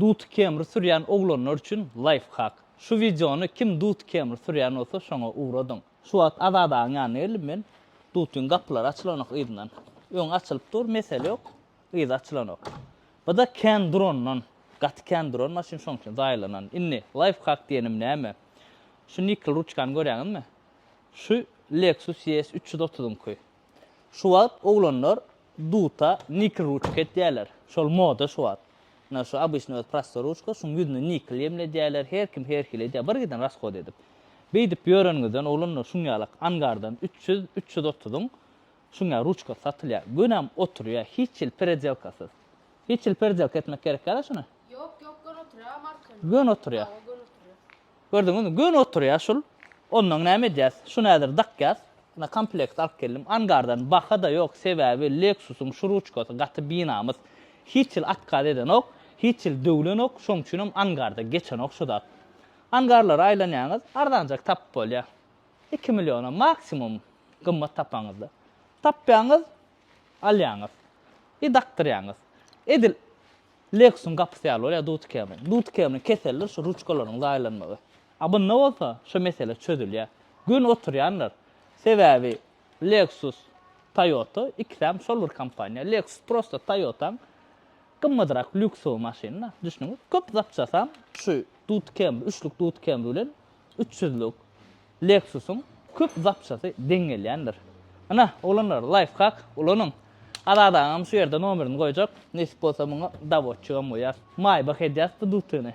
Dut kemri sürýän oglanlar üçin laýfhak. Şu wideony kim dut kemri sürýän bolsa şoňa ugradyň. Şu wagt Azadagyň ýanyna geldim men. Dutyň gapylary açylanok yzyndan. Öňi açylyp dur, mesele ýok. Yzy açylanok. Bada kän durandan. Gaty kän duran maşyn şoň üçin zaýalanan. Indi laýfhak diýenim näme? Şu nikl ruçkany görýäňizmi? Şu Lexus ES üç ýüz otuzyňky. Şu wagt oglanlar duta nikl ruçka etýärler. Şol moda şu wagt. Ynha şu obyçnyý öz prostoý ruçka, şuň ýüzüne nikl ýemledýärler, her kim her hili edýär, bir giden raskod edip. Beýdip ýöreniňizden oglanlar şuň ýalak angardan üç ýüz, üç ýüz otuzyň şuň ýaly ruçkasy satylýar. Gönäm oturýar, hiç hili peredelkasyz. Hiç hili peredelka etmek gerek ýa-da şuny? Ýok, ýok, gön oturýar, marka. Gön oturýar. Hawa, gön oturýar. Gördüňizmi, göni oturýar şul. Ondan näme edýäs? Şuny häzir dakýas. Ine, komplekt alyp geldim. Angardan baha-da ýok, sebäbi Lexus-yň şu ruçkasy gaty binamys. Hiç hil otkaz edenok, hiç hil döwlenok, şoň üçinem angarda geçenok şu zat. Angarlary aýlanýaňyz, arzanjak tapyp bolýar. Iki milliona maksimum gymmat tapaňyzda. Tapýaňyz, alýaňyz. I dakdyrýaňyz. Edil Lexus-yň gapysy ýaly bolýar Dutcam-yň. Dutcam-yň keseldir şu ruçkalaryň zaýalanmagy. A bunda bolsa şu mesele çözülýär. Göni oturýandyr. Sebäbi Lexus, Toyota ikisem şol bir kompaniýa. Lexus prosta Toyota-nyň gymmadrak lýuksowy maşyny-da. Düşdüňiz? Köp zapçasam şu Dutcam, üçlük Dutcam bilen üç ýüzlük Lexus-yň köp zapçasy deň gelýändir. Ynha, oglanlar, laýfhak ulanyň! Azat agam şu ýerde nomerini goýjak, nesip bolsa muňa dawotçygam goýar. Maýbah edýäs bu dutyny.